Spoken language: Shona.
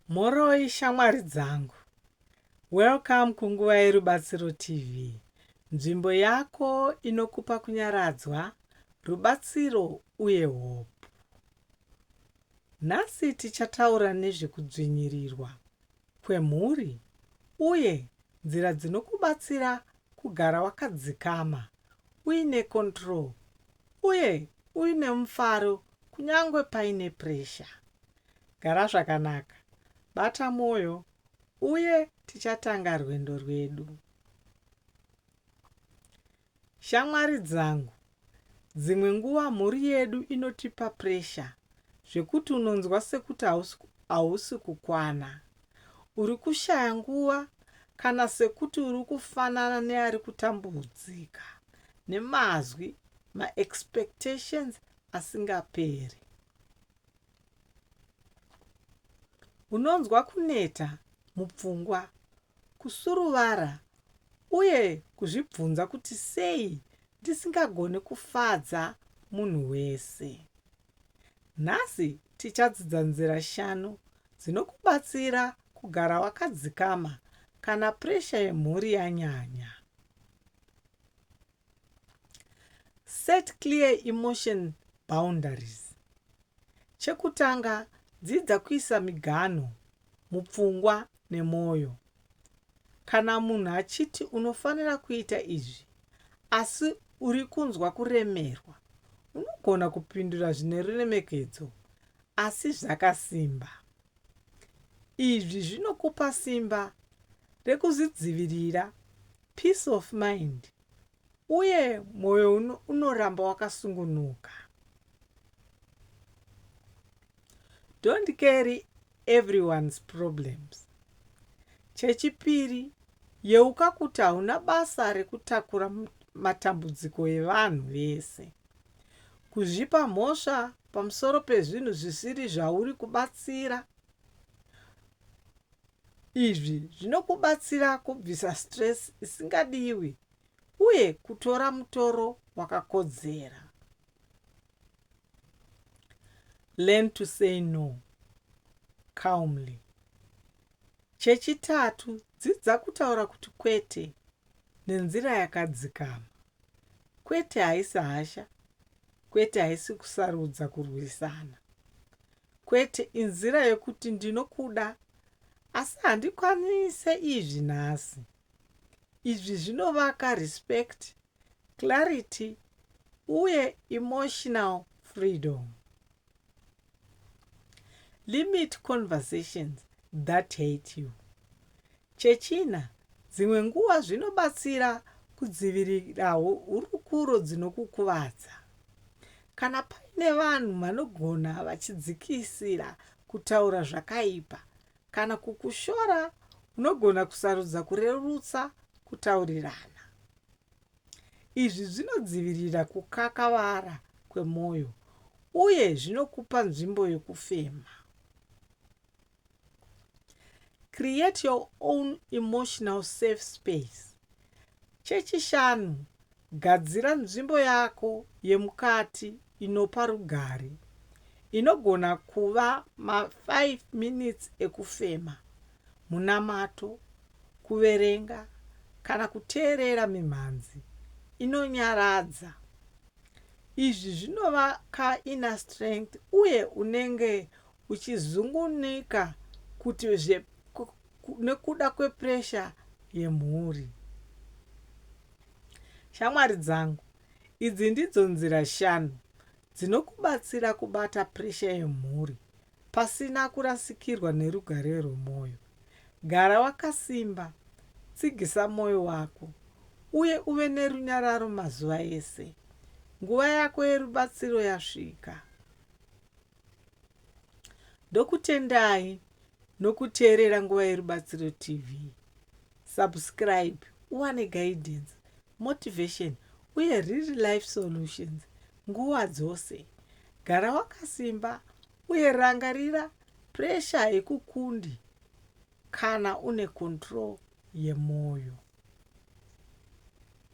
Mhoroi shamwari dzangu. Welcome kunguva yeRubatsiro TV, nzvimbo yako inokupa kunyaradzwa, rubatsiro uye hope. Nhasi tichataura nezvekudzvinyirirwa kwemhuri uye nzira dzinokubatsira kugara wakadzikama, uine control uye uine mufaro kunyangwe paine pressure. Gara zvakanaka, bata mwoyo uye tichatanga rwendo rwedu. Shamwari dzangu, dzimwe nguva mhuri yedu inotipa pressure zvekuti unonzwa sekuti hausi kukwana, uri kushaya nguva kana sekuti uri kufanana neari kutambudzika nemazwi, maexpectations asingaperi. Unonzwa kuneta mupfungwa, kusuruvara uye kuzvibvunza kuti sei ndisingagoni kufadza munhu wese. Nhasi tichadzidza nzira shanu dzinokubatsira kugara wakadzikama kana puresha yemhuri yanyanya. Set clear emotion boundaries. Chekutanga, dzidza kuisa miganho mupfungwa nemwoyo. Kana munhu achiti unofanira kuita izvi asi uri kunzwa kuremerwa, unogona kupindura zvine ruremekedzo asi zvakasimba. Izvi zvinokupa simba rekuzvidzivirira peace of mind uye mwoyo unoramba wakasungunuka. Don't carry everyone's problems. Chechipiri, yeuka kuti hauna basa rekutakura matambudziko evanhu vese. Kuzvipa mhosva pamusoro pezvinhu zvisiri zvauri kubatsira Izvi zvinokubatsira kubvisa stress isingadiwi uye kutora mutoro wakakodzera. Learn to say no calmly. Chechitatu, dzidza kutaura kuti kwete nenzira yakadzikama. Kwete haisi hasha, kwete haisi kusarudza kurwisana. kwete inzira yekuti ndinokuda asi handikwanise izvi nhasi izvi zvinovaka respect clarity uye emotional freedom limit conversations that hate you Chechina, dzimwe nguva zvinobatsira kudzivirirawo hurukuro dzinokukuvadza. Kana paine vanhu vanogona vachidzikisira kutaura zvakaipa kana kukushora, unogona kusarudza kurerutsa kutaurirana. Izvi zvinodzivirira kukakavara kwemwoyo uye zvinokupa nzvimbo yokufema. Create your own emotional safe space. Chechishanu, gadzira nzvimbo yako yemukati inopa rugare. Inogona kuva ma-5 minutes ekufema, munamato, kuverenga, kana kuteerera mimhanzi inonyaradza. Izvi zvinovaka inner strength uye unenge uchizungunuka kuti zve nekuda kwe pressure yemhuri. Shamwari dzangu, idzi ndidzo nzira shanu dzinokubatsira kubata pressure yemhuri pasina kurasikirwa nerugare rwemoyo. Gara wakasimba, tsigisa moyo wako, uye uve nerunyararo mazuva ese. Nguva yako yerubatsiro yasvika. Ndokutendai nokuteerera Nguva Yerubatsiro TV. Subscribe uwane guidance, motivation uye real life solutions nguva dzose. Gara wakasimba uye rangarira pressure haikukundi kana une control yemwoyo.